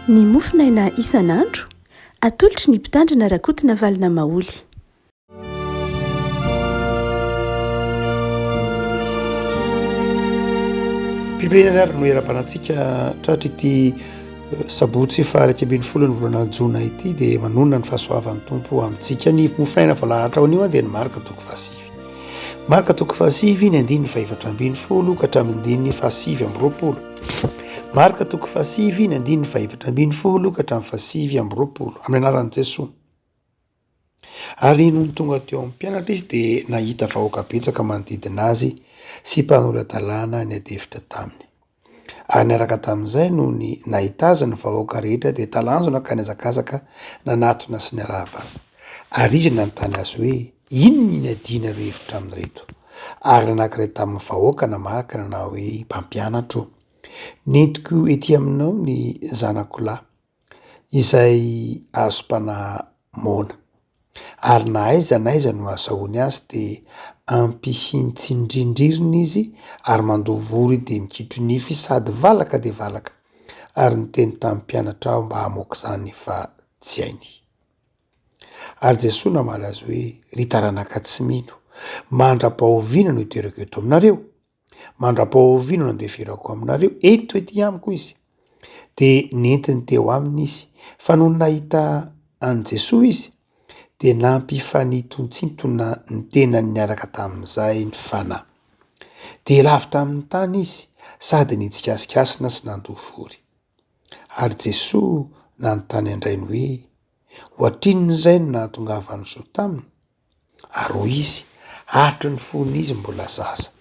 Ny mofo naina isan'andro, atolotry ny Mpitandrina Rakotonavalona Maholy. Mpiverinana ary no eram-panantsika tratra ity eh, sabotsy faharaiky ambin'ny folo ny volana jona ity dia manonona ny fahasoavan'ny tompo amintsika ny mofo naina vao lahatra ao anio dia ny marika toko fahasivy Marka toko fahasivy ny andininy fahefatra ambin'ny folo ka hatramin'ny andininy fahasivy amby roapolo. Marka toko fahasivy ny andininy fahefatra ambin'ny folo ka hatramin'ny fahasivy amby roapolo amin'ny anaran'i Jesoa. Ary nony tonga teo amin'ny mpianatra izy dia nahita vahoaka betsaka manodidina azy sy mpanora-dalàna niadefitra taminy. Ary niaraka tamin'izay noho ny nahita azy ny vahoaka rehetra dia talanjona ka nihazakazaka nanatona sy niarahaba azy. Ary izy nanontany azy hoe, Inona no inadianareo hevitra amin'ireto? Ary ny anankiray tamin'ny vahoaka namarika ka nanao hoe, Mpampianatro ô, nentiko ety aminao ny zanako lahy. izay hazom-panahy moana, ary na aiza na aiza no hahasahoany azy dia ampihiny tsindrindririny izy ary mandoa vory dia mikitro nify sady valaka dia valaka ary niteny tamin'ny mpianatra aho mba hamoaka izany fa tsy hainy. Ary Jesoa namaly azy hoe, Ry taranaka tsy mino, mandra-pahoviana no hiterako eto aminareo? Mandra-pahoviana no andeferako aminareo? Eto ety amiko izy. Dia nentiny teo aminy izy. Fa nony nahita an'i Jesoa izy, dia nampifanintontsintona ny tenany niaraka tamin'izay ny fanahy. Dia lavitra amin'ny tany izy sady nitsikasikasina sy nandoa vory. Ary Jesoa nanontany an-drainy hoe, Ohatrinona indray no nahatongavan'ny zo taminy? ary hoy izy, Hatry ny fony izy mbola zaza,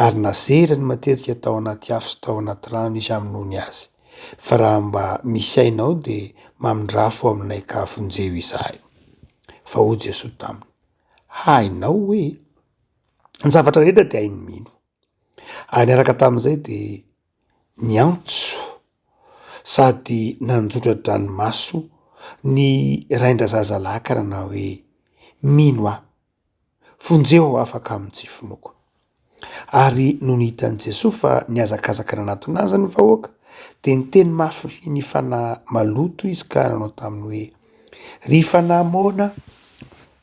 ary nazeriny matetika tao anaty afo sy tao anaty rano izy hamonoany azy, fa raha mba misy ainao dia mamindrafo aminay ka vonjeo izahay. Fa hoy Jesoa taminy, Hainao hoe ny zavatra rehetra dia hain'ny mino. Ary niaraka tamin'izay dia. niantso sady nanjotra dranomaso ny rain-drazazalakana nanao hoe, mino aho, vonjeo aho afaka amin'ny tsy finoako. Ary nony hitan'i Jesoa fa nihazakazaka nanatona Azy ny vahoaka dia niteny mafy ny fanahy maloto Izy ka nanao taminy hoe, ry fanahy moana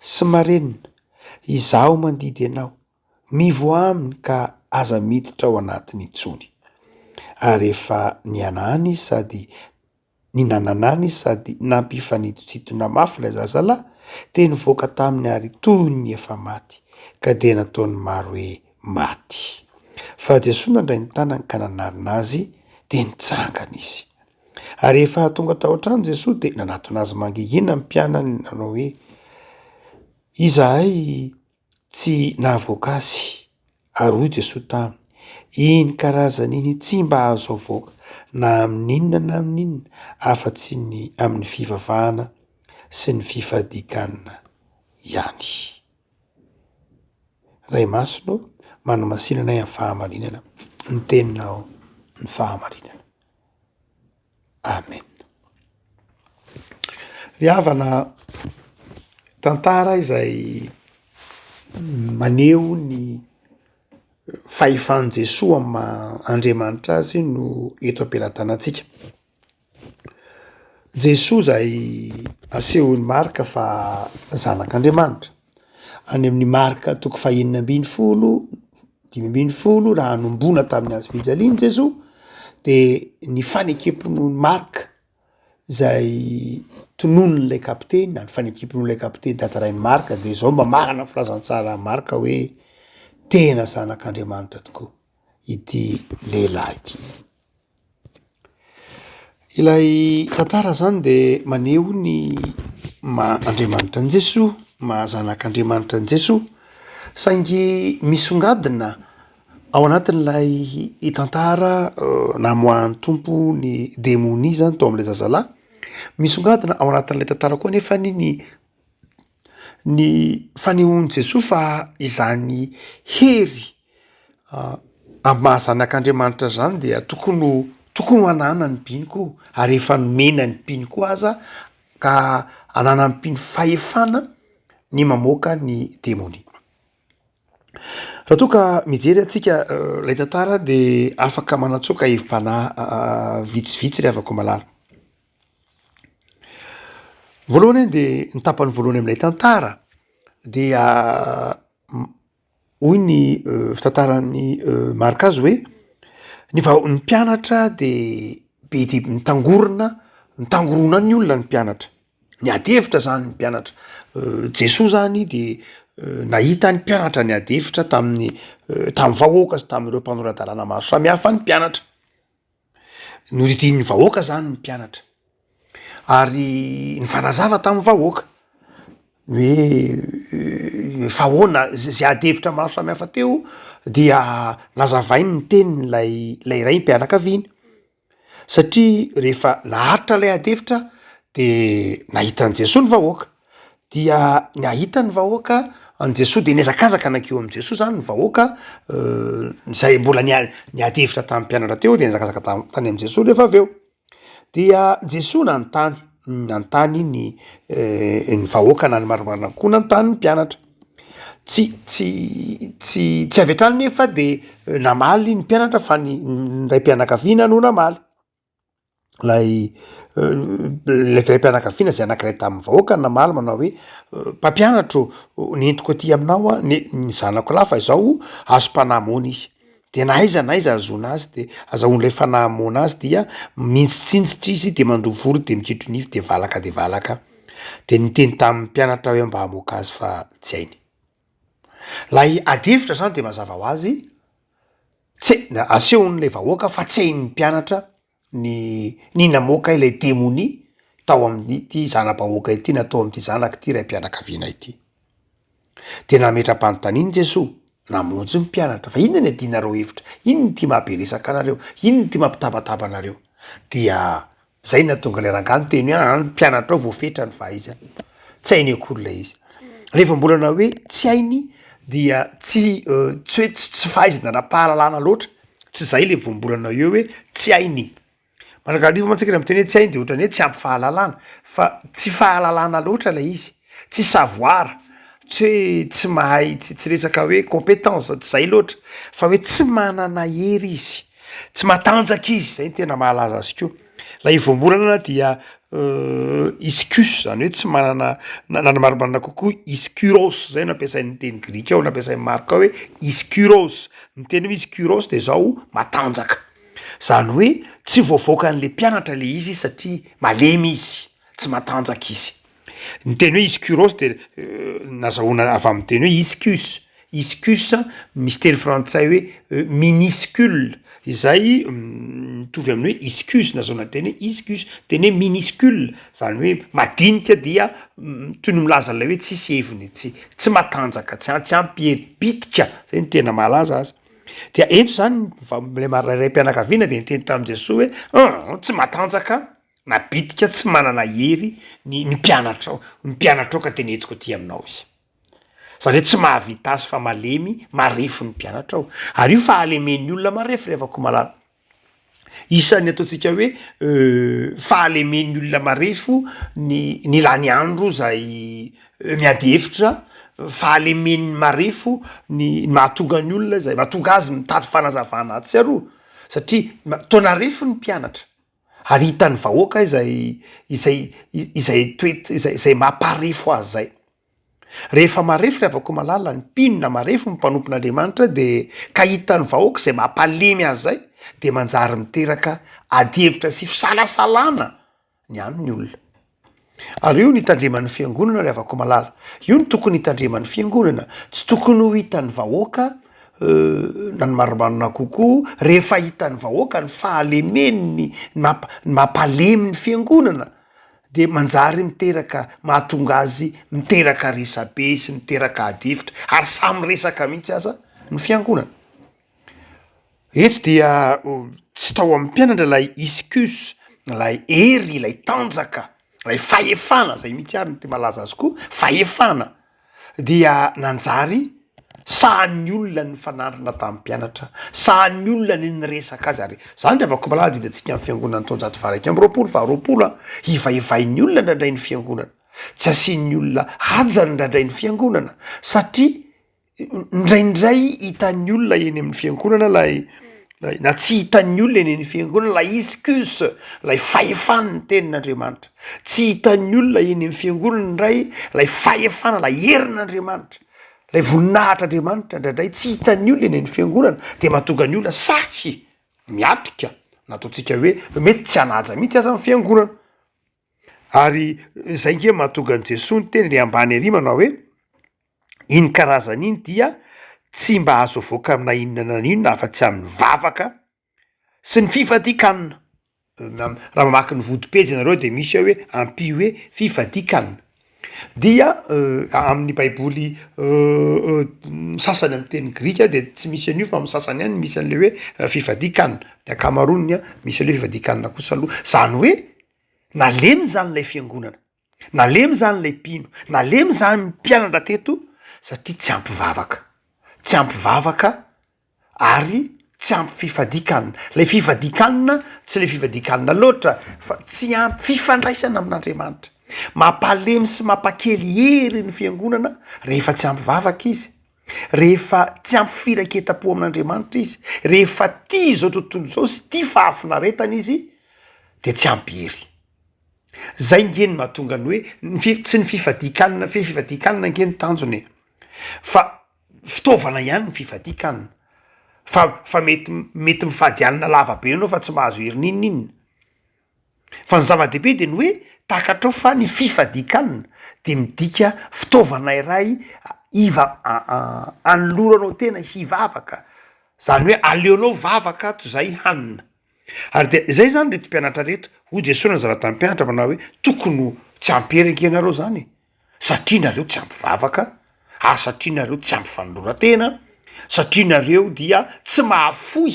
sy marenina, Izaho mandidy Ianao. Mivoaha aminy ka aza miditra ao anatiny intsony. Ary efa nihanahana izy sady ninananana izy sady nampifanitotitona mafy ilay zazalahy dia nivoaka taminy ary toy ny efa maty ka dia nataony maro hoe maty. Fa Jesoa nandray ny tanany ka nanarina azy dia nitsangana izy. Ary efa tonga tao an-trano Jesoa dia nanatona azy mangingina ny mpianany nanao hoe Izahay Tsy nahavoaka azy, ary hoy Jesoa taminy, Iny karazany iny tsy mba azo avoaka na amin' inona na amin' inona afa-tsy ny amin' ny fivavahana sy ny fifadikan' ihany. Ray Masina ô, manamasinanay amin' ny fahamarinana ny Teninao, ny fahamarinana. Amen. Ry havana, tantara izay maneho ny fahefan'i Jesoa amin'ny maha Andriamanitra azy no eto am-pelatanantsika. Jesoa izay asehon'i Marc fa zanak'Andriamanitra. Any amin'ny Marc toko fahenina ambin'ny folo, dimy ambin'ny folo raha hanombona tamin'ny hazo fijaliany Jesoa de ny fanekem-pinoan'i Marc zay tononin'ilay kapiteny na ny fanekem-pinoan'ilay kapiteny tantarain'i Marc de zao mba marina ny filazantsara Marc hoe tena zanak'Andriamanitra tokoa ity lehilahy ity. Ilay tantara izany dia maneho ny maha Andriamanitra an'i Jesoa, maha zanak'Andriamanitra an'i Jesoa. Saingy misongadina ao anatin'ilay tantara namoahan'ny Tompo ny demonia izany tao amin'ilay zazalahy. Misongadina ao anatin'ilay tantara koa anefa ny ny fanehoan'i Jesoa fa izany hery Amin'ny maha zanak'Andriamanitra zany dia tokony ho tokony ho ananan'ny mpino koa ary efa nomena ny mpino koa aza ka ananan'ny mpino fahefana ny mamoaka ny demonia. Raha toa ka mijery antsika lay tantara de afaka manatsoaka hevi-panahy vitsivitsy ry havako malala. Voalohany de ny tapany voalohany amin'ilay tantara dia Hoy ny fitantaran'i Marc azy hoe, Ny vahoakan'ny mpianatra dia be dia be mitangorona, mitangorona ny olona ny mpianatra. Niady hevitra izany ny mpianatra. Jesoa izany dia nahita ny mpianatra niady hevitra tamin'ny tamin'ny vahoaka sy tamin'ireo mpanora-dalàna maro samihafa ny mpianatra. Noridin'ny vahoaka zany ny mpianatra ary nifanazava tamin'ny vahoaka ny hoe efa ahoana za- zay ady hevitra maro samihafa teo dia nazavainy ny tenin'ilay ilay raim-pianakaviana satria rehefa naharitra ilay ady hevitra de nahita an'i Jesoa ny vahoaka. Dia nahita ny vahoaka an'i Jesoa dia nihazakazaka nankeo amin'i Jesoa zany ny vahoaka izay mbola niady hevitra tamin'ny mpianatra teo dia nihazakazaka tany amin'i Jesoa rehefa avy eo. Dia Jesoa nanontany, nanontany ny ny vahoaka na ny marimarina koa nanontany ny mpianatra. Tsy tsy tsy tsy avy hatrany nefa dia namaly ny mpianatra fa ny ny raim-pianakaviana no namaly. ilay ilay raim-pianakaviana izay anankiray tamin'ny vahoaka no namaly manao hoe mpampianatro nentiko aty aminao aho ne- ny zanako lahy fa izao azom-panahy moana izy de na aiza na aiza ahazoana azy de azahoan'ilay fanahy moana azy dia mihitsitsinjitra izy de mandoa volo de mikitro nify de valaka de valaka de niteny tamin'ny mpianatra hoe mba hamoaka azy fa tsy hainy Ilay ady hevitra izany dia mazava ho azy tse- asehon'ilay vahoaka fa tsehin'ny mpianatra ny ny namoaka ilay demonia tao amin'ity zana-bahoaka ity na tao amin'ity zanak'ity raim-pianakaviana ity. De nametra-panontaniana Jesoa, namonjy ny mpianatra fa inona no iadianareo hevitra, inona ity mahabe resaka anareo, inona ity mampitabataba anareo? Dia Zay no nahatonga ilay rangahy niteny hoe an, mpianatrao vao fetra ny fahaizany. Tsy hainy akory ilay izy. Rehefa mbola na hoe tsy hainy dia tsy tsy hoe tsy fahaizana ara-pahalalana loatra, tsy zay le vao mbola na eo hoe tsy hainy. Manakarivo mantsy isika raha miteny hoe tsy hainy de ohatran'ny hoe tsy ampy fahalalana fa tsy fahalalana loatra ilay izy. tsy savoir, tsy hoe tsy mahay, tsy tsy resaka hoe compétence, tsy zay loatra fa hoe tsy manana hery izy, tsy matanjaka izy, zay no tena mahalaza azy koa, ilay ivomborana dia iskus zany hoe tsy manana na na ny marimarina kokoa iskuros zay no ampiasain'ny teny grika ao, nampiasain'i Marka hoe iskuros, ny teny hoe iskuros dia zao matanjaka, zany hoe tsy voavaoka an'le mpianatra le izy satria malemy izy. tsy matanjaka izy. Ny teny hoe ischiuros dia nazahoana avy amin'ny teny hoe ischius, ischius misy teny frantsay hoe miniscule izay mitovy amin'ny hoe ischius nazahoana ny teny hoe ischius, teny hoe miniscule zany hoe madinika dia toy ny milaza an'ilay hoe tsisy heviny, tsy tsy matanjaka, tsy a- tsy ampy hery, bitika zay no tena mahalaza azy, dia eto zany ny va- ilay mari- raim-pianakaviana dia niteny tamin'i Jesoa hoe an! tsy matanjaka. na bitika tsy manana hery ny ny mpianatrao ny mpianatrao ka tena entiko aty aminao izy zany hoe tsy mahavita azy fa malemy marefo ny mpianatrao ary io fahalemen'ny olona marefo ry havako malala isan'ny ataontsika hoe fahalemen'ny olona marefo ny ny lany andro zay miady hevitra fahalemen'ny marefo ny mahatonga ny olona zay mahatonga azy mitady fanazavana atsy aroa satria ma- toa narefo ny mpianatra Ary hitan'ny vahoaka izay izay izay toet- izay izay maha-mparefo azy izay. Rehefa marefo ry Avakomalala, ny mpino na marefo ny mpanompon'Andriamanitra dia ka hitan'ny vahoaka izay mampalemy azy izay dia manjary miteraka adihevitra sy fisalasalana ny aminy olona. Ary io no hitandreman'ny fiangonana ry havako malala. Io no tokony hitandreman'ny fiangonana. Tsy tokony ho hitan'ny vahoaka na ny marimarina kokoa rehefa hitan'ny vahoaka ny fahalemeny ny mampalemy ny fiangonana dia manjary miteraka mahatonga azy miteraka resabe sy miteraka adihevitra ary samy resaka mihitsy aza ny fiangonana. Eto dia tsy tao amin'ny mpianatra ilay iscus, ilay hery, ilay tanjaka, ilay fahefana, izay mihitsy ary no tena malaza azy koa, fahefana dia nanjary sahan'ny olona ny mifanandrina tamin'ny mpianatra, sahan'ny olona ny niresaka azy ary izany raha vao malaza adidintsika amin'ny fiangonan'ny taonjato faharaika amby roapolo, faharoapolo an! Hivaivain'ny olona indraindray ny fiangonana, tsy asian'ny olona haja indraindray ny fiangonana satria Indraindray hitan'ny olona eny amin'ny fiangonana ilay ilay na tsy hitan'ny olona eny amin'ny fiangonana ilay excuse, ilay fahefana ny tenin'Andriamanitra. Tsy hitan'ny olona eny amin'ny fiangonana indray ilay fahefana, ilay herin'Andriamanitra, ilay voninahitr'Andriamanitra. Indraindray tsy hitan'ny olona eny amin'ny fiangonana dia mahatonga ny olona sahy miatrika na ataontsika hoe mety tsy hanaja mihitsy aza ny fiangonana. Ary izay nge mahatonga an'i Jesoa niteny ry ambany ery manao hoe, iny karazany iny dia tsy mba azo avoaka amina inona na inona afa tsy amin'ny vavaka sy ny fifadikanna, raha mamaky ny vodi-pejy ianareo dia misy ao hoe ampio hoe fifadikanna. Dia amin'ny baiboly sasany amin'ny teny grika dia tsy misy an'io fa amin'ny sasany ihany misy an'ilay hoe fifadian-kanina, ny ankamaroany misy an'ilay hoe fifadian-kanina kosa aloha, izany hoe nalemy izany ilay fiangonana, nalemy izany ilay mpino, nalemy izany ny mpianatra teto satria tsy ampy vavaka, tsy ampy vavaka. ary tsy ampy fifadikanna, ilay fifadikanna tsy le fifadikanna loatra fa tsy ampy fifandraisana amin'Andriamanitra, mampalemy sy mampakely hery ny fiangonana rehefa tsy ampy vavaka izy, rehefa tsy ampy firaiketam-po amin'Andriamanitra izy, rehefa tia izao tontolo izao sy tia fahafinaretana izy dia tsy ampy hery. Zay nge ny mahatonga ny hoe ny fi- tsy ny fifadikanna fe fifadikanna nge ny tanjony e! fa fitaovana ihany ny fifadian-kanina fa fa mety mety mifady alina lava be ianao fa tsy mahazo hery n'inon'inona fa ny zava-dehibe dia ny hoe takatrao fa ny fifadian-kanina dia midika fitaovana iray hiva- anoloranao tena hivavaka zany hoe aleonao vavaka toy izay hanina ary dia izay zany reto mpianatra reto hoy Jesoa nanazava tamin'ny mpianatra manao hoe tokony ho tsy hampiherika ianareo zany e! satria nareo tsy ampy vavaka ary satria nareo tsy ampy fanoloran-tena satria nareo dia tsy mahafoy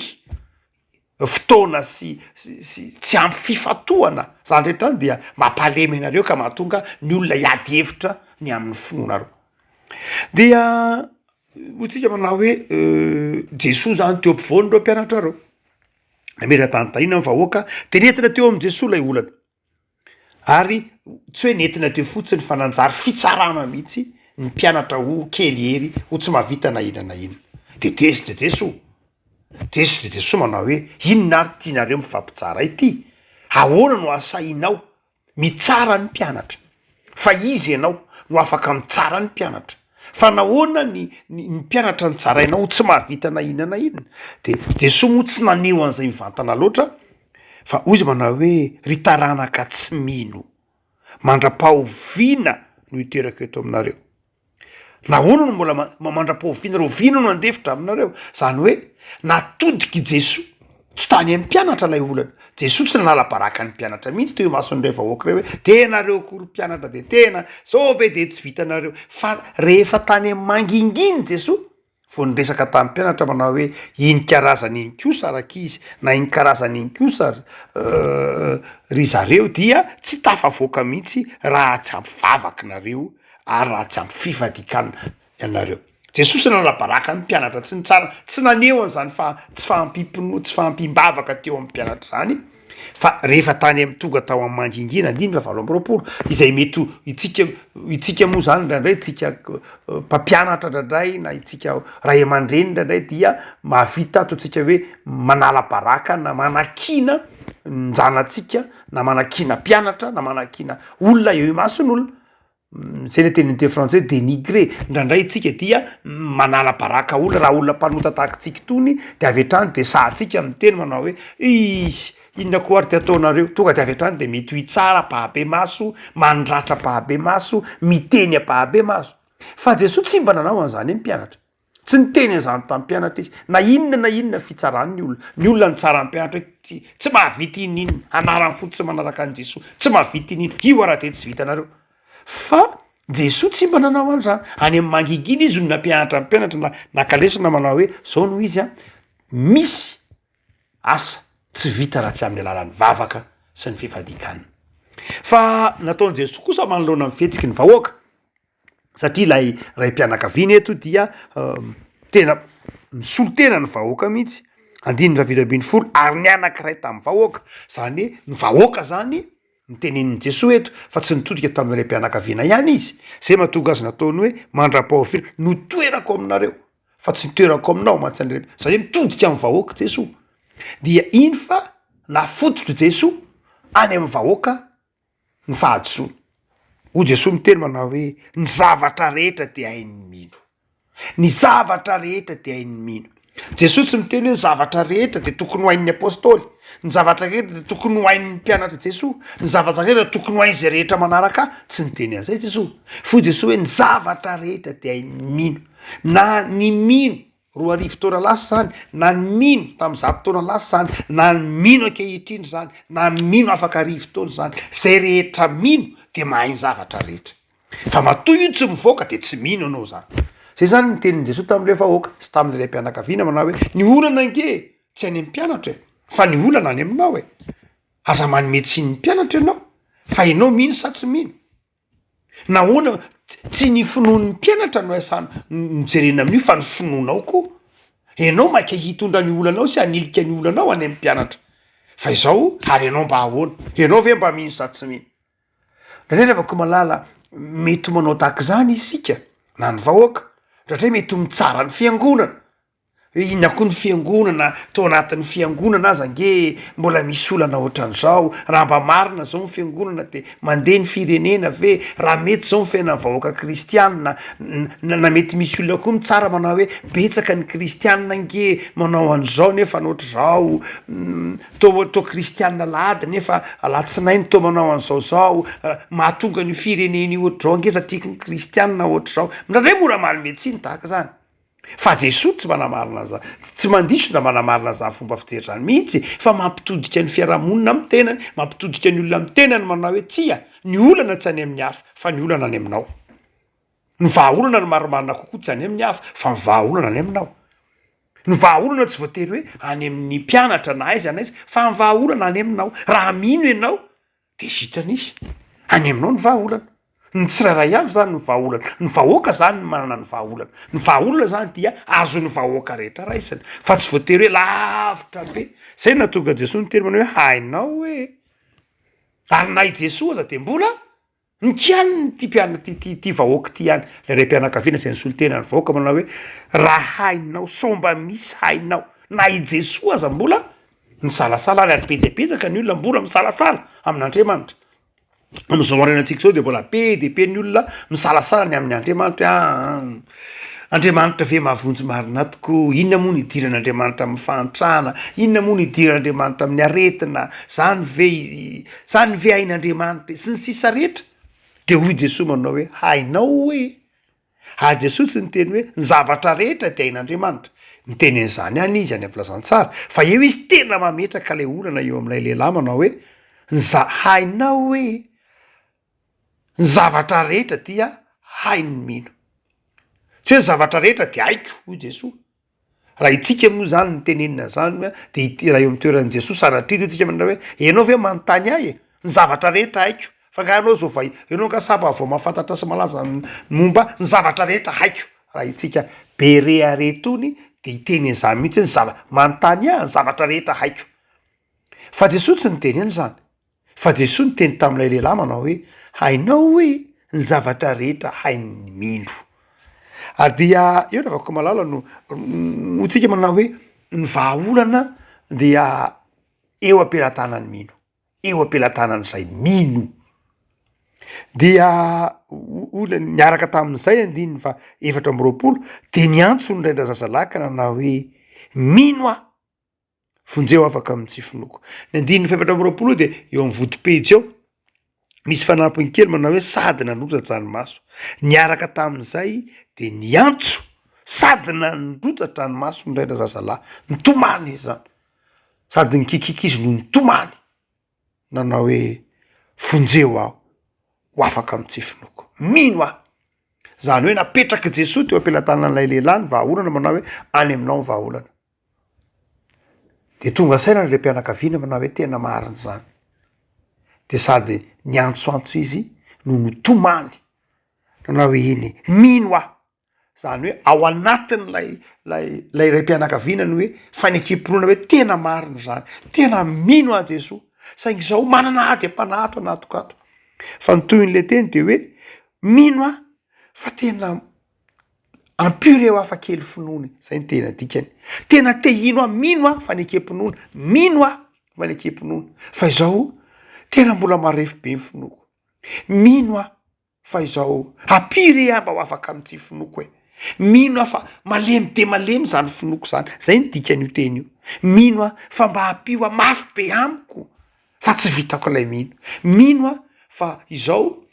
fotoana sy sy tsy ampy fifantohana zany rehetra any dia mampalemy anareo ka mahatonga ny olona hiady hevitra ny amin'ny finoanareo dia ho tsika manao hoe Jesoa zany teo ampovoan'ireo mpianatrareo nametra-panontaniana ny vahoaka de nentina teo amin'i Jesoa ilay olana Ary tsy hoe nentina teo fotsiny fa nanjary fitsarana mihitsy ny mpianatra ho kely hery, ho tsy mahavita na inona na inona. Dia deso dia deso! Deso dia deso manao hoe inona ary tianareo mifampitsara ity? Ahoana no ahasahianao mitsara ny mpianatra? Fa iza ianao no afaka mitsara ny mpianatra? Fa nahoana ny ny ny mpianatra no tsarainao ho tsy mahavita na inona na inona? Dia deso moa tsy naneho an'izay mivantana loatra Fa hoy izy manao hoe, Ry taranaka tsy mino, mandra-pahoviana no hiterako eto aminareo? Nahoana no mbola mandra-pahoviana rahoviana no handefitra aminareo? Izany hoe natodik'i Jesoa tsy tany amin'ny mpianatra ilay olana. Jesoa tsy nanala baraka ny mpianatra mihitsy teo imason'ilay vahoaka ireo hoe, dia ianareo koa ry mpianatra dia tena izao ve dia tsy vitanareo? Fa rehefa tany amin'ny mangingina i Jesoa vao niresaka tamin'ny mpianatra manao hoe iny karazana iny kosa ry ankizy na iny karazana iny kosa ry zareo dia tsy tafavoaka mihitsy raha tsy ampy vavaka nareo ary raha tsy ampy fifadikanana ianareo. Jesosy nanabaraka ny mpianatra tsy nitsara tsy naneho an'izany fa tsy fahampiam-pinoa tsy fahampiam-bavaka teo amin'ny mpianatra izany. Fa rehefa tany am tonga tao am mangingina andininy fahavalo amby roapolo izay mety ho itsika itsika moa zany indraindray itsika mpampianatra indraindray na itsika ray aman-dreny indraindray dia mahavita ataontsika hoe manala baraka na manakiana ny zanatsika na manakiana mpianatra na manakiana olona eo imason'olona Zay le tenin'ny teny frantsay denigrer, indraindray tsika dia manala baraka olona raha olona mpanota tahak'itsika itony de avy hatrany de sahatsika miteny manao hoe iiiy inona koa ary ty ataonareo, tonga de avy hatrany de mitohy tsara ampahabe maso, mandratra ampahabe maso, miteny ampahabe maso, fa Jesoa tsy mba nanao an'izany hoe mpianatra. Tsy niteny an'izany tamin'ny mpianatra izy. Na inona na inona fitsarany ny olona, ny olona nitsara ny mpianatra hoe, Tsy, tsy mahavita iniinona, anarany fotsiny tsy manaraka an'i Jesoa, tsy mahavita iniinona, io ary dia tsy vitanareo. Fa Jesoa tsy mba nanao an'izany. Any amin'ny mangingina Izy no nampianatra ny mpianatra na naka lesona manao hoe, Izao no izy an, misy asa tsy vita raha tsy amin'ny alalan'ny vavaka sy ny fifadian-kanina. Fa nataon'i Jesoa kosa manoloana ny fihetsiky ny vahoaka. satria ilay raim-pianakaviana eto dia tena misolo tena ny vahoaka mihitsy, andininy fahavalo ambin'ny folo ary nianankiray tamin'ny vahoaka, izany hoe ny vahoaka izany no tenenin'i Jesoa eto fa tsy nitodika tamin'ny raim-pianakaviana ihany izy, izay mahatonga azy nataony hoe mandra-pahofiana no toerako aminareo fa tsy ny toerako aminao mantsy ny raim-pianakaviana, izany hoe mitodika amin'ny vahoaka Jesoa dia iny fa nafototr'i Jesoa any amin'ny vahoaka. ny fahadisoany. Hoy Jesoa miteny manao hoe ny zavatra rehetra dia hain'ny mino, ny zavatra rehetra dia hain'ny mino. Jesoa tsy miteny hoe ny zavatra rehetra dia tokony ho hain'ny apostoly, ny zavatra rehetra dia tokony ho hain'ny mpianatry Jesoa, ny zavatra rehetra tokony ho hain'izay rehetra manaraka ahy, tsy niteny an'izay Jesoa. Foy Jesoa hoe ny zavatra rehetra dia hain'ny mino na ny mino roa arivo taona lasa izany, na ny mino tamin'ny zato taona lasa izany, na ny mino ankehitriny izany, na ny mino afaka arivo taona izany, izay rehetra mino dia mahay ny zavatra rehetra. Fa matoa io tsy mivoaka dia tsy mino ianao izany. Izay izany ny tenin'i Jesoa tamin'ilay vahoaka sy tamin'ilay mpianakaviana manao hoe, ny olana ange tsy any amin'ny mpianatra e, fa ny olana any aminao e. Aza manome tsiny ny mpianatra ianao fa ianao mino sa tsy mino. Nahoana tsy ny finoan'ny mpianatra no iasana no jerena amin'io fa ny finoanao koa? Ianao maika hitondra ny olanao sy hanilika ny olanao any amin'ny mpianatra fa izao ary ianao mba ahoana? Ianao ve mba mino sa tsy mino? Ndraindray ry havako malala mety ho manao tahaka izany isika na ny vahoaka, ndraindray mety ho mitsara ny fiangonana, Hoe inona koa ny fiangonana, tao anatin'ny fiangonana aza ange mbola misy olana ohatran'izao, raha mba marina zao ny fiangonana de mandeha ny firenena ve? Raha mety zao ny fiainan'ny vahoaka kristianina na na mety misy olona koa mitsara manao hoe betsaka ny kristianina ange manao an'izao nefa ny ohatrizao toa toa kristianina alahady nefa alatsinainy toa manao an'izao zao mahatonga an'io firenena io ohatrizao ange satria ny kristianina ohatrizao, ndradray mora manome tsiny tahaka zany. Fa Jesoa tsy manamarina za, tsy mandiso na manamarina zany fomba fijery zany mihitsy fa mampitodika ny fiarahamonina amin'ny tenany, mampitodika ny olona amin'ny tenany manao hoe tsia, ny olana tsy any amin'ny hafa fa ny olana any aminao. Ny vahaolana no marimarina kokoa tsy any amin'ny hafa fa ny vahaolana any aminao. Ny vahaolana tsy voatery hoe any amin'ny mpianatra na aiza na aiza fa ny vahaolana any aminao. Raha mino ianao Dia zitra nisy. Any aminao ny vahaolana. Ny tsirairay avy izany no vahaolana. Ny vahoaka izany no manana ny vahaolana. Ny vahaolana izany dia azon'ny vahoaka rehetra raisina, fa tsy voatery hoe lavitra be. Izay no nahatonga an'i Jesoa niteny manao hoe, hainao hoe. Ary na i Jesoa aza dia mbola nikianin'ity mpiana, ity vahoaka ity ihany, ilay raim-pianakaviana izay nisolo tena ny vahoaka manao hoe, raha hainao, sao mba misy hainao. Na i Jesoa aza mbola Misalasala any ary betsabetsaka ny olona mbola misalasala amin' Andriamanitra. Amin'izao aorianantsika izao dia mbola be dia be ny olona misalasala ny amin' Andriamanitra hoe aa Andriamanitra ve mahavonjy marina tokoa? Inona moa no idiran' Andriamanitra amin'ny fahantrana? Inona moa no idiran' Andriamanitra amin'ny aretina? Zany ve zany ve hain' Andriamanitra e? sy ny sisa rehetra. Dia hoy Jesoa manao hoe hainao hoy e. Ary Jesoa tsy niteny hoe ny zavatra rehetra dia ain'Andriamanitra. Niteny an'izany ihany Izy any amin'ny Filazantsara, fa eo Izy tena mametraka ilay olana eo amin'ilay lehilahy manao hoe, ny za-, hainao hoe ny zavatra rehetra dia hain'ny mino. Tsy hoe ny zavatra rehetra dia haiko, hoy Jesoa, Raha itsika moa izany no tenenina izany hoe dia ity raha eo amin'ny toeran'i Jesoa sanatria toa tsika manao hoe ianao ve manontany ahy e? ny zavatra rehetra haiko fa nga ianao zao vao ianao nga sa mba vao mahafantatra sy malaza momba ny zavatra rehetra haiko raha itsika be re ary itony dia hiteny an'izany mihitsy ny zava-, manontany ahy ny zavatra rehetra haiko fa Jesoa tsy niteny an'izany. Fa Jesoa niteny tamin'ilay lehilahy manao hoe, Hainao hoe ny zavatra rehetra hain'ny mino. Ary dia eo ny avakoko malala no ho tsika manao hoe ny vahaolana dia eo am-pelatanan'ny mino, eo am-pelatanan'izay mino. Dia hoy ilay niaraka tamin'izay andininy faha efatra amby roapolo dia niantso ny ray-drazazalahy ka nanao hoe, Mino aho. Vonjeo afaka amin'ny tsy finoako. Ny andininy fahefatra amby roapolo dia eo amin'ny vodipejy eo, misy fanampiny kely manao hoe sady nandrotsa-dranomaso. Niaraka tamin'izay dia niantso, sady nandrotsa-dranomaso ny ray na zazalahy. Nitomany izy zany, sady nikiakiaka izy no nitomany, nanao hoe vonjeo aho ho afaka amin'ny tsy finoako. Mino aho. Izany hoe napetrak'i Jesoa teo am-pelatanan'ilay lehilahy ny vahaolana manao hoe any aminao ny vahaolana. De tonga saina ny raim-pianakaviana manao hoe tena marina zany, de sady niantsoantso izy no nitomany nanao hoe eny e, mino aho, zany hoe ao anatin'ilay lay lay raim-pianakaviana ny hoe fanekem-pinoana hoe tena marina zany, tena mino an'i Jesoa, saingy zao manana ady am-panahy ato anatiko ato, fa ny tohin'le teny de hoe mino aho fa tena. Ampio reo hafa kely finoana e! Zay no tena dikany. Tena te hino aho, mino aho fanekem-pinoana, mino aho fanekem-pinoana fa izao tena mbola marefo be ny finoako. Mino aho fa izao ampio re aho mba ho afaka amin'ity finoako e! Mino aho fa malemy dia malemy izany finoako izany, zay no dikan'io teny io. Mino aho fa mba ampio aho mafy be amiko fa tsy vitako ilay mino. Mino aho fa izao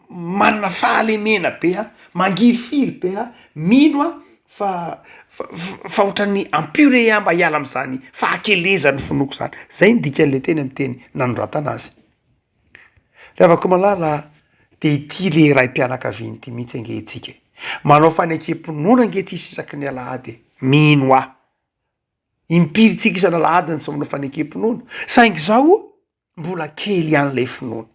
manana fahalemena be aho, mangirifiry be aho, mino aho fa fa fa ohatran'ny en purée aho mba hiala amin'izany fahakelezan'ny finoako izany, zay ny dikan'ilay teny amin'ny teny nanoratana azy. Ry havako malala a, de ity le raim-pianakaviana ity mihitsy ange hetsika e, manao fanekem-pinoana ange tsisy isaky ny alahady e, mino aho. Impiry tsika isana alahady ny tsy manao fanekem-pinoana, saingy izao mbola kely ihany ilay finoana.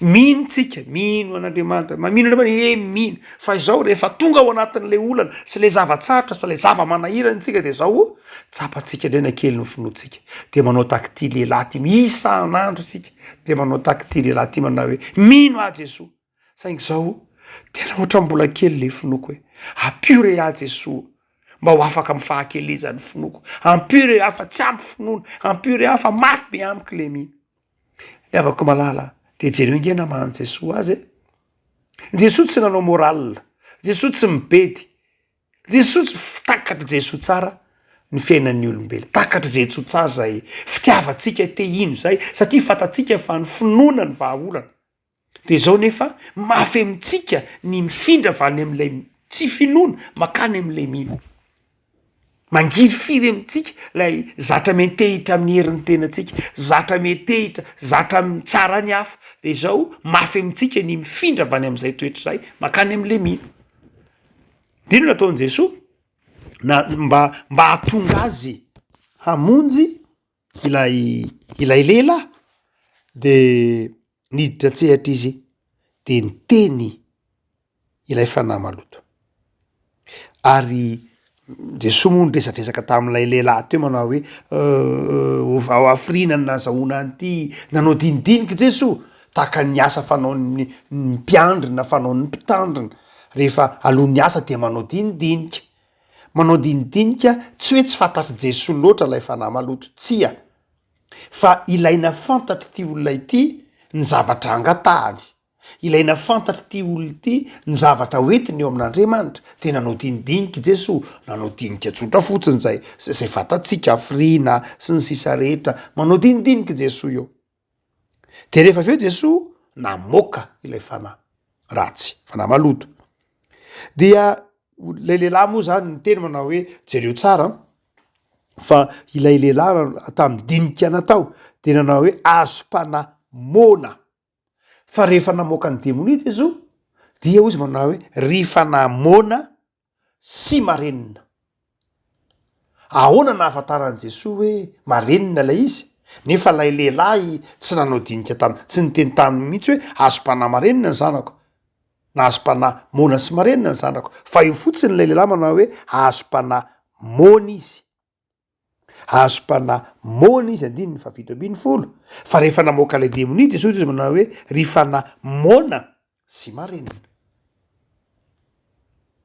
Mino tsika, mino an'Andriamanitra, mamino Andriamanitra, ee mino, fa izao rehefa tonga ao anatin'ilay olana sy ilay zava-tsarotra sy ilay zava-manahirana antsika dia izao tsapantsika indray na kely ny finoantsika, dia manao tahaka ity lehilahy ity, isan'andro isika dia manao tahaka ity lehilahy ity manao hoe mino aho Jesoa. Saingy zaho tena ohatran'ny mbola kely le finoako e! Ampio re aho Jesoa mba ho afaka amin'ny fahakelezan'ny finoako, ampio re aho fa tsy ampy finoana, ampio re aho fa mafy be amiko le mi. Ny havako malala a! de jereo nge nama an'i Jesoa azy e! Jesoa tsy nanao moral, Jesoa tsy mibedy, Jesoa tsy f, takatr'i Jesoa tsara ny fiainan'ny olombelona, takatr'i Jesoa tsara zay fitiavantsika te hino zay satria fantatsika fa ny finoana no vahaolana. Dia izao nefa mafy amintsika ny mifindra avy any amin'ilay tsy finoana mankany amin'ilay mino. Mangirifiry amintsika ilay zatra miantehitra amin'ny herin'ny tenantsika, zatra miantehitra, zatra mitsara ny hafa. Dia izao mafy amintsika ny mifindra avy any amin'izay toetra izay mankany amin'ilay mino. Dia inona no nataon'i Jesoa? Na- mba mba hahatonga azy hamonjy. Ilay ilay lehilahy dia niditra an-tsehatra izy dia niteny ilay fanahy maloto. Ary Jesoa moa niresadresaka tamin'ilay lehilahy teo manao hoe ovao hafiriana ny nahazahoana an'ity, nanao dinidinika Jesoa tahaka ny asa fanaon'ny mpiandry na fanaon'ny mpitandrina rehefa alohan'ny asa dia manao dinidinika. Manao dinidinika tsy hoe tsy fantatr'i Jesoa loatra ilay fanahy maloto, tsia, fa ilaina fantatr'ity olona ity ny zavatra angatahany, ilaina fantatr'ity olona ity ny zavatra hoentiny eo amin'Andriamanitra, dia nanao dinidinika i Jesoa, nanao dinika tsotra fotsiny izay izay fantatsika, firiana sy ny sisa rehetra, manao dinidinika i Jesoa eo. De rehefa avy eo Jesoa namoaka ilay fanahy ratsy, fanahy maloto. Dia ilay lehilahy moa zany niteny manao hoe, jereo tsara an, fa ilay lehilahy tamin'ny dinika natao dia nanao hoe, azom-panahy moana. Fa rehefa namoaka ny demonia Jesoa dia hoy izy manao hoe, ry fanahy moana sy marenina. Ahoana nahafantaran'i Jesoa hoe marenina ilay izy, nefa ilay lehilahy tsy nanao dinika taminy, tsy niteny taminy mihitsy hoe azom-panahy marenina ny zanako, na azom-panahy moana sy marenina ny zanako, fa eo fotsiny ilay lehilahy manao hoe azom-panahy moana izy. Hahazo mpanahy moana izy, andininy fahafito ambin'ny folo, fa rehefa namoaka ilay demonia i Jesoa dia izy no nanao hoe, Ry fanahy moana sy marenina.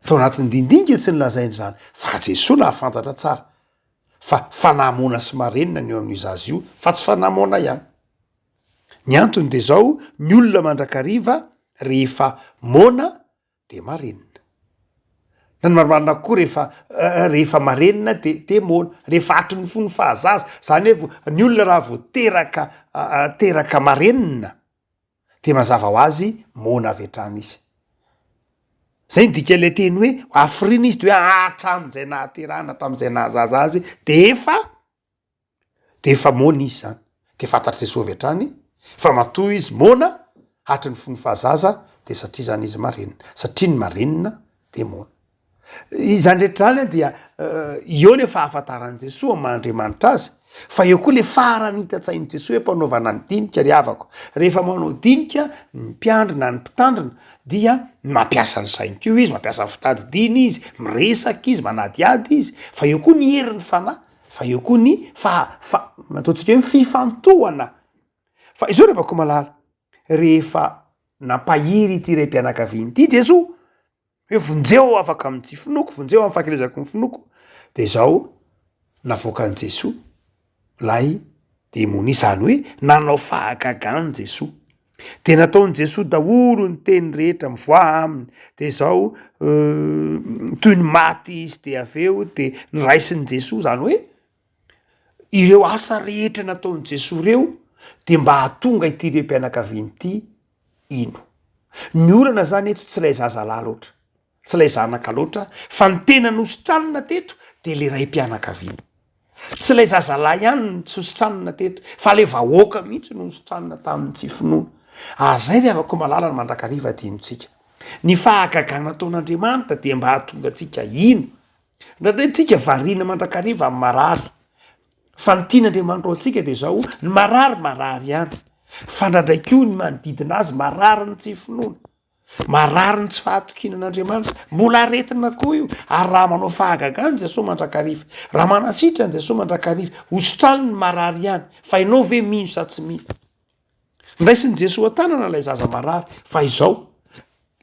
Tao anatin'ny dindinka tsy nolazainy izany, fa Jesoa nahafantatra tsara fa fanahy moana sy marenina ny eo amin'io zaza io, fa tsy fanahy moana ihany. Ny antony dia izao, ny olona mandrakariva rehefa moana Dia marenina. Na ny marimarina koa rehefa rehefa marenina dia dia moana. Rehefa hatry ny fony fahazaza. Izany hoe ny olona raha vao teraka teraka marenina dia mazava ho azy moana avy hatrany izy. Izay no dikan'ilay teny hoe hafiriana izy dia hoe hatramin'izay nahaterahana hatramin'izay nahazaza azy dia efa Dia efa moana izy izany. Dia fantatr'i Jesosy avy hatrany fa matoa izy moana hatry ny fony fahazaza dia satria izany izy marenina. Satria ny marenina dia moana. Izany rehetra izany dia eo ilay fahafantaran'i Jesosy amin'ny maha Andriamanitra azy fa eo koa ilay farany hitan-tsain'i Jesosy hampanaovana ny dinika ry havako. Rehefa manao dinika ny mpiandry na ny mpitandrina dia mampiasa ny sainy koa izy, mampiasa ny fitadidiany izy, miresaka izy, manadihady izy fa eo koa ny herin'ny fanahy. Fa eo koa ny faha, fa, nataontsika hoe fifantohana. Fa izao ry havako malala, rehefa nampahery ity raim-pianakaviana ity Jesoa, hoe vonjeo afaka amin'ity finoako, vonjeo amin'ny fahakelezako ny finoako, de zao navoakan'i Jesoa lay demonia, zany hoe nanao fahagagana Jesoa. Dia nataon'i Jesoa daholo ny teny rehetra mivoaha aminy, dia izao toy ny maty izy, dia avy eo dia niraisin'i Jesoa, izany hoe ireo asa rehetra nataon'i Jesoa ireo dia mba hahatonga ity rem-pianakaviana ity hino. Ny olana izany eto tsy ilay zazalahy loatra. Tsy ilay zanaka loatra fa ny tena nositranina teto dia ilay raim-pianakaviana. Tsy ilay zazalahy ihany no tsy nositranina teto fa ilay vahoaka mihitsy no nositranina tamin'ny tsy finoana. Ary izay ry havako malala no mandrakariva adinontsika. Ny fahagagana nataon'Andriamanitra dia mba hahatonga antsika hino. Indraindray isika variana mandrakariva amin'ny marary fa ny tian'Andriamanitra ho antsika dia izao, ny marary marary ihany fa indraindray koa ny manodidina azy marary ny tsy finoana. Marary ny tsy fahatokiana an'Andriamanitra. Mbola aretina koa io. Ary raha manao fahagagana i Jesoa mandrakariva, raha manasitrana an'i Jesoa mandrakariva, hosotrany ny marary ihany. Fa ianao ve mino sa tsy mino? Ndraisin'i Jesoa an-tanana ilay zaza marary. Fa izao,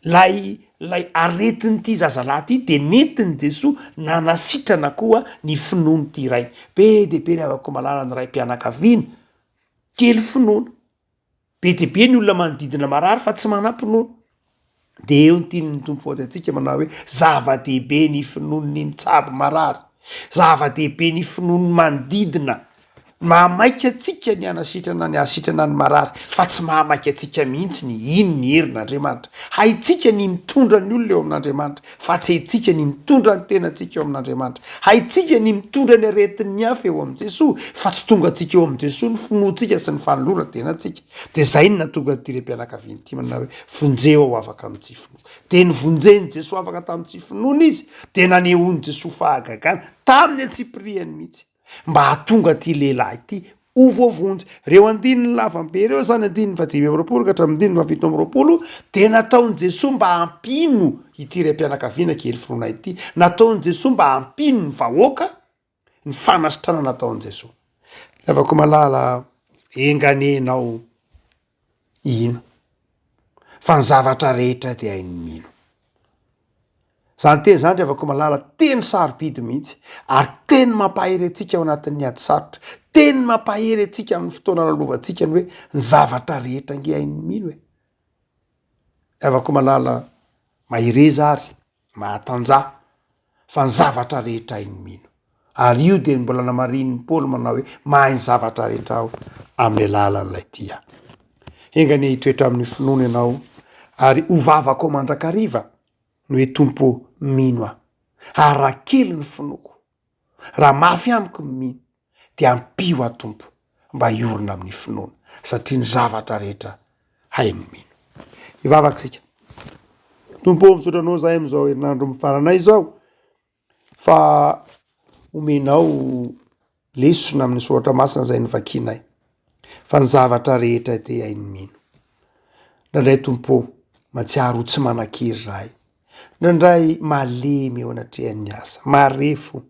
ilay, ilay aretin'ity zazalahy ity dia nentin'i Jesoa nanasitrana koa ny finoan'ity rainy. Be dia be ry havako malala ny raim-pianakaviana kely finoana. Be dia be ny olona manodidina marary fa tsy manampy nono. Dia eo ny tian'ny Tompo faoty antsika manao hoe zava-dehibe ny finoan'ny mitsabo marary. Zava-dehibe ny finoan'ny manodidina. Mahamaika antsika ny hanasitrana ny hasitrana ny marary fa tsy mahamaika antsika mihitsy ny ino ny herin'Andriamanitra. Haintsika ny mitondra ny olona eo amin'Andriamanitra. Fa tsy haintsika ny mitondra ny tenantsika eo amin'Andriamanitra. Haintsika ny mitondra ny aretin'ny hafa eo amin'i Jesoa, fa tsy tongantsika eo amin'i Jesoa ny finoantsika sy ny fanoloran-tenantsika. Dia izay no nahatonga an'ity raim-pianakaviana ity manao hoe, Vonjeo aho afaka amin'ny tsy finoa. Dia nivonjen'i Jesoa afaka tamin'ny tsy finoana izy, dia nanehoan'i Jesoa fahagagana, tamin'ny antsipiriany mihitsy. mba hahatonga ity lehilahy ity ho voavonjy. Ireo andininy lavam-be ireo izany, andininy fahadimy amby roapolo ka hatramin'ny andininy fahafito amby roapolo, dia nataon'i Jesoa mba hampino ity raim-pianakaviana kely finoana ity. Nataon'i Jesoa mba hampino ny vahoaka ny fanasitranana ataon'i Jesoa. Ravakoma Lala, enga anie ianao. Hino. Fa ny zavatra rehetra dia hain'ny mino. Izany teny izany ry havako malala, teny sarobidy mihitsy ary teny mampahery antsika ao anatin'ny ady sarotra, teny mampahery antsika amin'ny fotoana nalovantsika ny hoe ny zavatra rehetra ange hain'ny mino e! Ry havako malala, mahereza ary. mahatanjaha fa ny zavatra rehetra hainy mino, ary io dia ny mbola namarihin'i Paoly manao hoe mahay ny zavatra rehetra aho amin'ny alalan'ilay tia ahy. Enga anie hitoetra amin'ny finoana ianao ary ho vavako mandrakariva ny hoe Tompo ô, mino aho, ary raha kely ny finoako, raha mafy amiko ny mino, dia ampio aho Tompo mba hiorina amin'ny finoana satria ny zavatra rehetra hay no mino. Hivavaka isika. Tompo ô, misaotra anao zahay amin'izao herinandro mifaranay izao fa omenao lesona amin'ny soratra masina izay novakianay. Fa ny zavatra rehetra dia hainy mino. Ndraindray Tompo ô, matsiaro ho tsy manan-kery izahay. Ndraindray malemy eo anatrehan'ny asa, marefo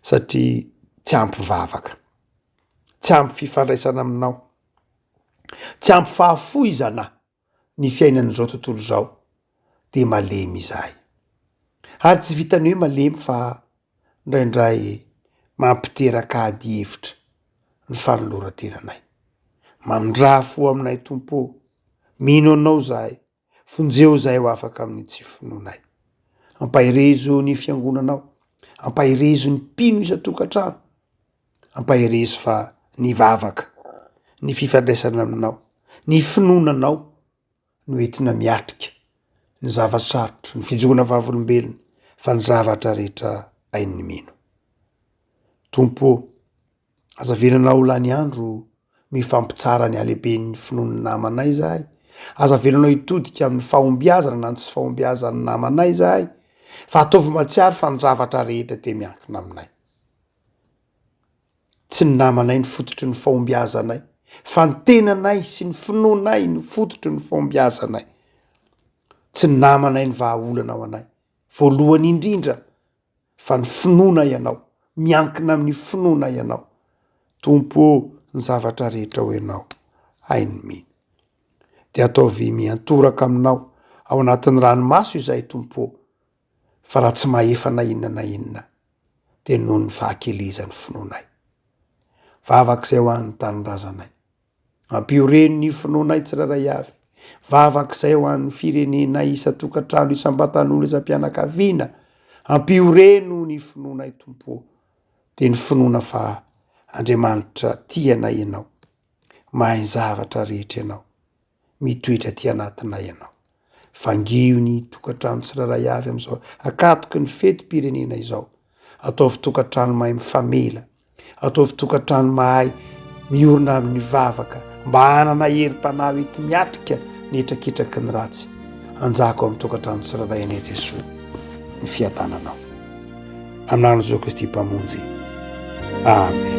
satria tsy ampy vavaka, tsy ampy fifandraisana aminao, tsy ampy fahafo izana. ny fiainan'izao tontolo izao dia malemy izahay. Ary tsy vitan'ny hoe malemy fa indraindray mampiteraka ady hevitra ny fanoloran-tenanay. Mamindrà fo aminay Tompo ô! Mino Anao izahay, vonjeo izahay ho afaka amin'ny tsy finoanay. Ampaherezo ny Fiangonanao, ampaherezo ny mpino isan-tokantrano. Ampaherezo fa ny vavaka, ny fifandraisana aminao, ny finoana anao no entina miatrika ny zava-tsarotra, ny fijoroana vavolombelony fa ny zavatra rehetra hain'ny mino. Tompo ô, aza avelana ho lany andro mifampitsara ny halehiben'ny finoan'ny namanay izahay, aza avelanao hitodika amin'ny fahombiazana na ny tsy fahombiazan'ny namanay izahay fa ataovy mahatsiaro fa ny zavatra rehetra dia miankina aminay. Tsy ny namanay no fototry ny fahombiazanay fa ny tenanay sy ny finoanay no fototry ny fahombiazanay. Tsy ny namanay no vahaolana ho anay voalohany indrindra fa ny finoana ianao, miankina amin'ny finoana ianao. Tompo ô, ny zavatra rehetra ao ianao, hay ny mino. Dia ataovy miantoraka aminao ao anatin'ny ranomaso izahay Tompo ô. fa raha tsy mahefa na inona na inona dia noho ny fahakelezan'ny finoanay. Vavaka izay ho an'ny tanindrazanay. Ampihoren'ny finoanay tsirairay avy. Vavaka izay ho an'ny firenenay isan-tokantrano, isam-batan'olo, isam-pianakaviana. Ampihoreno ny finoanay Tompo ô. Dia ny finoana fa Andriamanitra tia anay ianao. Mahay ny zavatra rehetra ianao. mitoetra aty anatinay ianao. Vangiho ny tokantrano tsirairay avy amin'izao ankatoky ny fetim-pirenena izao. Ataovy tokantrano mahay mifamela, ataovy tokantrano mahay miorina amin'ny vavaka mba hanana herim-panahy ho enti miatrika ny hetraketraky ny ratsy. Anjaka ao amin'ny tokantrano tsirairay anie Jesoa ny fiadananao. Amin'ny anaran'i Jesoa Kristy Mpamonjy. Amen.